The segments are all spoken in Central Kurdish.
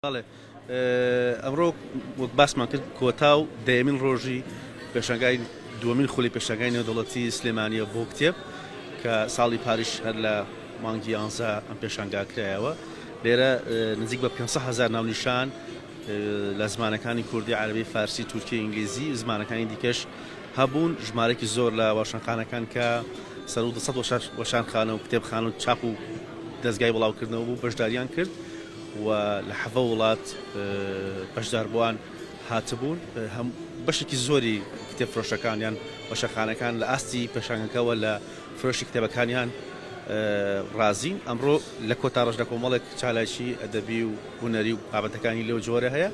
بەڵێ ئەمڕۆ وەک باسمان کرد کۆتا و دەیەمین ڕۆژی پێشنگای دووەمین خولی پێشنگای نێودەوڵەتی سلێمانیە بۆ کتێب کە ساڵی پاریش هەر لە مانگی یانزە ئەم پێشنگا کرایەوە لێرە نزیک بە 500 هزار ناونیشان لە زمانەکانی کوردی عربی فارسی تورکی ئینگلیزی زمانەکانی دیکەش هەبوون ژمارەێکی زۆر لە واشانخانەکان کە سەر و دەسەد وەشانخانە و کتێبخان و چاپ و دەستگای بڵاوکردنەوە بوو بەشداریان کرد و لە حەڤە وڵات بەشداربوان هاتبوون هەم بەشێکی زۆری کتێب فرۆشەکان یان وەشەخانەکان لە ئاستی پێشانگەکەوە لە فرۆشی کتێبەکانیان ڕازین ئەمڕۆ لە کۆتا ڕەش لە کۆمەڵێک چالاکی ئەدەبی و هونەری و بابەتەکانی لەو جۆرە هەیە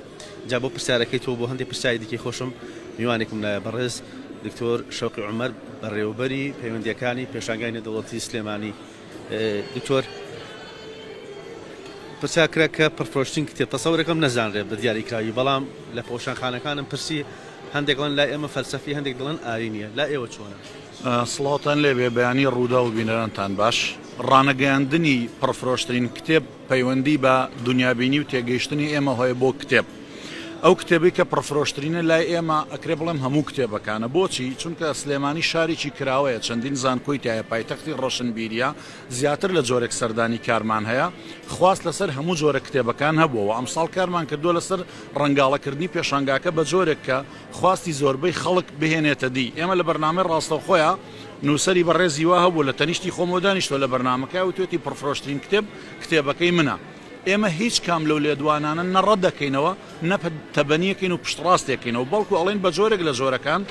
جا بۆ پرسیارەکەی تۆ بۆ هەندێک پرسیاری دیکەی خۆشم میوانێکم لایە بەڕێز دکتۆر شەوقی عومەر بەڕێوەبەری پەیوەندیەکانی پێشانگای نێدەوڵەتی سلێمانی دکتۆر پرسیار کرا کە پڕفرۆشتن کتێب تەسەورەکەم نەزانرێت بە دیاریکراوی بەڵام لە پۆشانخانەکانم پرسی هەندێکڵن لای ئێمە فەلسەفی هەندێک دڵن ئاری نییە لا ئێوە چۆنە سڵاوتان لێبێ بەیانی ڕوودا و بینەرانتان باش ڕانەگەیاندنی پڕفرۆشترین کتێب پەیوەندی بە دونیابینی و تێگەیشتنی ئێمە هەیە بۆ کتێب ئەو کتێبەی کە پڕفرۆشترینە لای ئێمە ئەکرێ بڵێم هەموو کتێبەکانە بۆچی چونکە سلێمانی شارێکی کراوەیە چەندین زانکۆی تایە پایتەختی ڕۆشنبیریە زیاتر لە جۆرێک سەردانی کارمان هەیە خواست لەسەر هەموو جۆرە کتێبەکان هەبووە و ئەمساڵ کارمان کردووە لەسەر ڕەنگاڵەکردنی پێشانگاکە بە جۆرێک کە خواستی زۆربەی خەڵک بهێنێتە دی ئێمە لە بەرنامەی ڕاستەوخۆیە نووسەری بەڕێزی وا هەبوو لە تەنیشتی خۆمەوە دانیشتووە لە بەرنامەکەیا وتوێتی پڕفرۆشترین کتێب، کتێبەکەی منە. ئێمە هیچ کام لەو لێدوانانە نە ڕەت دەکەینەوە، نە تەبەنیەکەین و پشتڕاستیەکەینەوە، بەڵکو ئەڵێین بە جۆرێک لە جۆرەکان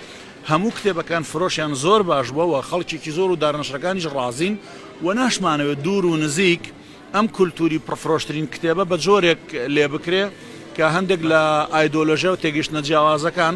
هەموو کتێبەکان فرۆشیان زۆر باش بووە و خەڵکێکی زۆر و دارنەشرەکانیش ڕازین و ناشمانەوێت دوور و نزیک ئەم کولتووری پڕفرۆشترین کتێبە بە جۆرێک لێبکرێ کە هەندێک لە ئایدۆلۆژیا و تێگەیشتنە جیاوازەکان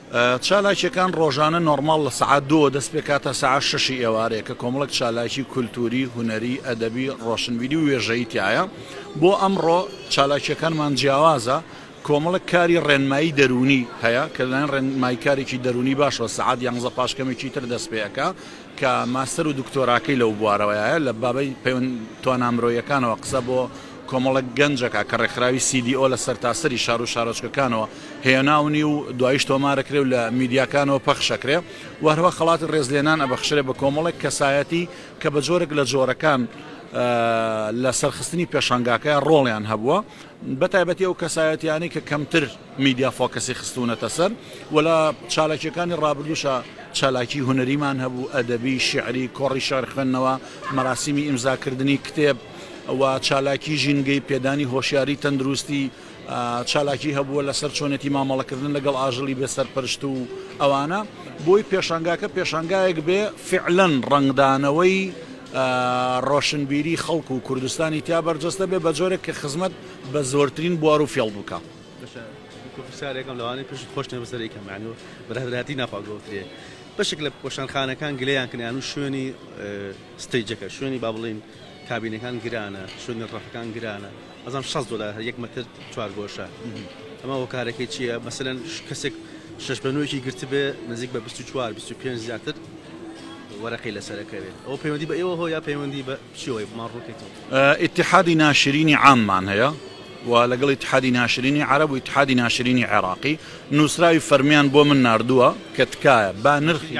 چالاکییەکان ڕۆژانە نۆرماڵ لە سەعات دووەوە دەست پێ کات تا سەعات شەشی ئێوارێ کە کۆمەڵێک چالاکی کولتووری، هونەری، ئەدەبی، ڕۆشنبیری و وێژەیی تیایە. بۆ ئەمڕۆ چالاکییەکانمان جیاوازە، کۆمەڵێک کاری ڕێنمایی دەروونی هەیە کە لەلایەن ڕێنمایکارێکی دەروونی باشەوە سەعات یانزە پاش کەمێکی تر دەست پێ ئەکا کە ماستەر و دکتۆراکەی لەو بوارەوەیە لە بابەی پەیوەند توانا مرۆیەکانەوە قسە بۆ کۆمەڵێک گەنجەکە کە ڕێکخراوی CDO لە سەرتاسەری شار و شارۆچکەکانەوە هێناونی و دواییش تۆمارەکرێ و لە میدیاکانەوە پەخشەکرێ و هەروەها خەڵاتی ڕێزلێنان ئەبەخشرێ بە کۆمەڵێک کەسایەتی کە بە جۆرێک لە جۆرەکان لە سەرخستنی پێشانگاکەیا ڕۆڵیان هەبووە بە تایبەتی ئەو کەسایەتیانەی کە کەمتر میدیا فۆکەسی خستوونەتە سەر و لە چالاکیەکانی ڕابردووشە چالاکی هونەریمان هەبوو ئەدەبی شعری کۆڕی شار خوێندنەوە مەراسیمی ئیمزاکردنی کتێب و چالاکی ژینگەی، پێدانی هۆشیاری تەندروستی، چالاکی هەبووە لەسەر چۆنێتی مامەڵەکردن لەگەڵ ئاژەڵی بێ سەرپەرشت و ئەوانە، بۆی پێشانگاکە پێشانگایەک بێ فیعلەن ڕەنگدانەوەی ڕۆشنبیری خەڵک و کوردستانی تیا بەرجەستە بێ بەجۆرێک کە خزمەت بە زۆرترین بوار و فێڵ بکا. بەشە پرسیارێکم لەوانەیە پشت خۆش نەبێ بەسەر ئیکەم یانی بەرادەرایەتی ناخوا گۆترێ بەشێک لە وەشانخانەکان گلەیان کەن یان شوێنی ستەیجەکە شوێنی با بڵێین کابینەکان گرانە چون نرڕەخەکان گرانە ئەزان شەست دۆلار هەر یەک مەتر چوارگۆشە ئەمە هۆکارەکەی چییە مەسەلەن کەسێک شەش بە نۆیەکی گرتبێ نزیک بە 24 25 زیاتر وەرەقی لەسەرەکەوێت ئەو پەیوەندی بە ئێوە هۆ یا پەیوەندی بە چیەوەی بمان ڕووکەیتەوە ئیتحادی ناشرینی عاممان هەیە و لەگەڵ ئیتحادی ناشرینی عەرەب و ئیتحادی ناشرینی عێراقی نووسراوی فەرمییان بۆ من ناردووە کە تکایە با نرخی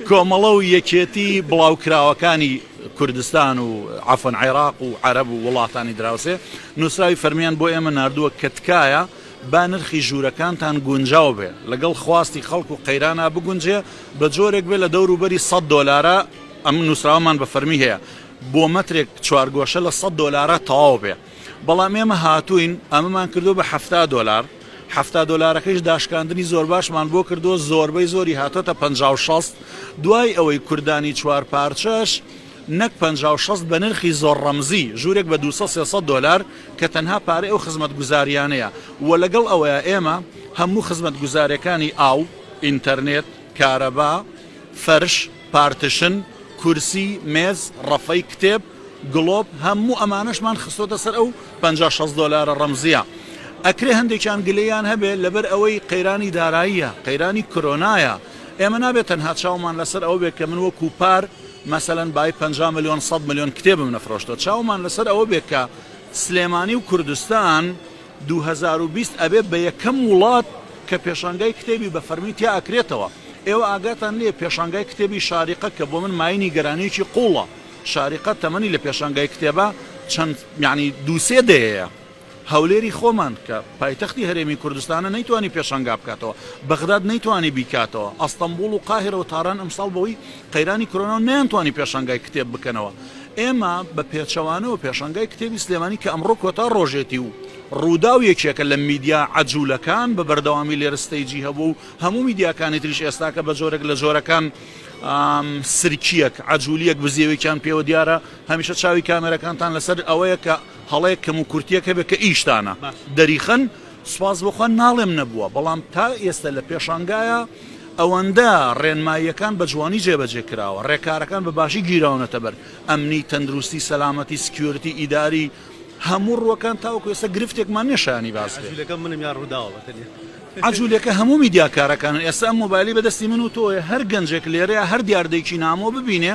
کۆمەڵە و یەکێتی بڵاوکراوەکانی کوردستان و عەفەن عێراق و عەرەب و وڵاتانی دراوسێ نووسراوی فەرمییان بۆ ئێمە ناردووە کە تکایە با نرخی ژوورەکانتان گونجاو بێ لەگەڵ خواستی خەڵک و قەیرانا بگونجێ بە جۆرێک بێ لە دەوروبەری سەد دۆلارە ئەم نووسراوەمان بە فەرمی هەیە بۆ مەترێک چوارگۆشە لە سەد دۆلارە تەواو بێ بەڵام ئێمە هاتووین ئەمەمان کردوە بە حەفتا دۆلار حەفتا دۆلارەکەیش داشکاندنی زۆر باشمان بۆ کردووە زۆربەی زۆری هاتۆتە پ شەست دوای ئەوەی کوردانی چوار پارچەش نەک پ شەست بە نرخی زۆر ڕەمزی ژوورێک بە 200 دلار کە تەنها پارە ئەو خزمەت گوزاریانەیە و لەگەڵ ئەوەیە ئێمە هەموو خزمەت گوزارەکانی ئاو ئینتەرنێت کارەبا فەرش پارتشن، کورسی، مێز، ڕەفەی کتێب، گڵۆپ، هەموو ئەمانەشمان خستۆتە سەر ئەو پەنجا شەست دۆلارە ڕەمزیە. ئەکرێ هەندێکیان گلەییان هەبێ لەبەر ئەوەی قەیرانی داراییە، قەیرانی کرۆنایە، ئێمە نابێ تەنها چاومان لەسەر ئەوە بێ کە من وەکو پار مەسەلەن بای پەنجا ملیۆن سەد ملیۆن کتێبم نەفرۆشتوە، چاومان لەسەر ئەوە بێ کە سلێمانی و کوردستان، دوو هەزار و بیست ئەبێ بە یەکەم وڵات کە پێشانگای کتێبی بە فەرمی تیا ئەکرێتەوە ئێوە ئاگاتان لێیە پێشانگای کتێبی شاریقە کە بۆ من مایەی نیگەرانیەکی قوڵە شاریقە تەمەنی لە پێشانگای کتێبە چەند یانی دوو سێ دەیەیە هەولێری خۆمان کە پایتەختی هەرێمی کوردستانە نەیتوانی پێشانگا بکاتەوە بەغداد نەیتوانی بیکاتەوە ئەستەمبوڵ و قاهیرە و تاران ئەمساڵ بەوەی قەیرانی کۆرۆنا و نەیانتوانی پێشانگای کتێب بکەنەوە، ئێمە بە پێچەوانەوە پێشانگای کتێبی سلێمانی کە ئەمڕۆ کۆتا ڕۆژێتی و ڕووداو یەکێکە لە میدیا عەجولەکان بە بەردەوامی لێرە ستەیجی هەبووە و هەموو میدیاکانی تریش ئێستاکە بە جۆرێک لە جۆرەکان سرکیەک عەجولیەک بزێوێکیان پێوە دیارە هەمیشە چاوی کامێرەکانتان لەسەر ئەوەیە کە هەڵەیەک کەم و کورتیەک هەبێت کە ئیشتانە دەریخەن سوپاس بۆ خوا ناڵێم نەبووە، بەڵام تا ئێستە لە پێشانگایە، ئەوەندە ڕێنماییەکان بە جوانی جێبەجێ کراوە، ڕێکارەکان بە باشی گیراونەتە بەر، ئەمنی، تەندروستی، سەلامەتی، سکیۆرتی، ئیداری، هەموو ڕووەکان تاوەکو ئێستە گرفتێکمان نییە شایانی باس بێت. عەجولەکە هەموو میدیاکارەکانن، ئێستە ئەم مۆبایلەی بە دەستی من و تۆیە، هەر گەنجێک لێرەیە هەر دیاردەیەکی نامۆ ببینێ،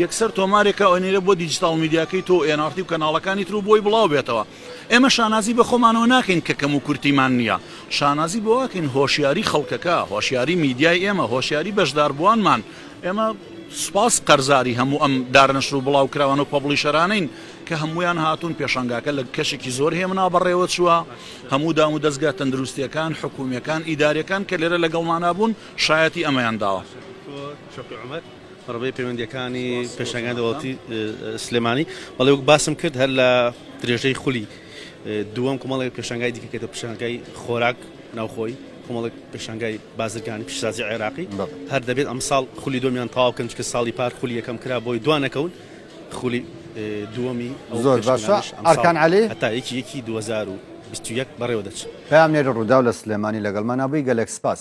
یەکسەر تۆمارێک ئەنێرێ بۆ دیجیتاڵ میدیاکەی تۆ و ئێن ئاڕ تی و کەناڵەکانی تر و بۆی بڵاو بێتەوە. ئێمە شانازی بە خۆمانەوە ناکەین کە کەموکورتیمان نییە، شانازی بەوە ئەکەین هۆشیاری خەڵکەکە، هۆشیاری میدیای ئێمە، هۆشیاری بەشداربووانمان، ئێمە سوپاس قەرزاری هەموو ئەم دارنەشر و بڵاوکراوان و پەبڵیشەرانەین کە هەموویان هاتوون، پێشانگاکە لە کەشێکی زۆر هێمنا بەڕێوەچووە، هەموو دامودەزگا تەندروستییەکان، حکوومییەکان، ئیدارییەکان کە لێرە لەگەڵمانا بوون شایەتی ئەمەیان داوە. بەڕێوەبەری پەیوەندییەکانی پێشانگای دەوڵەتی سلێمانی بەڵێ وەک باسم کرد هەر لە درێژەی خولی دووەم کومەڵێک پێشانگای دیکە کێتە پێشانگای خۆراک ناوخۆی کومەڵێک پێشانگای بازرگانی پیشسازی عێراقی هەر دەبێت ئەمساڵ خولی دومیان تاو کەن چکە ساڵی پار خولی یەکەم کرا بۆی دوانەکەون خولی دووەمی زۆر باشە ئەرکان علی هەتا یەکی یەکی 2021 بەڕێوە دەچ پامێری ڕوودا لە سلێمانی لەگەڵمانابووی گەلێک سپاس.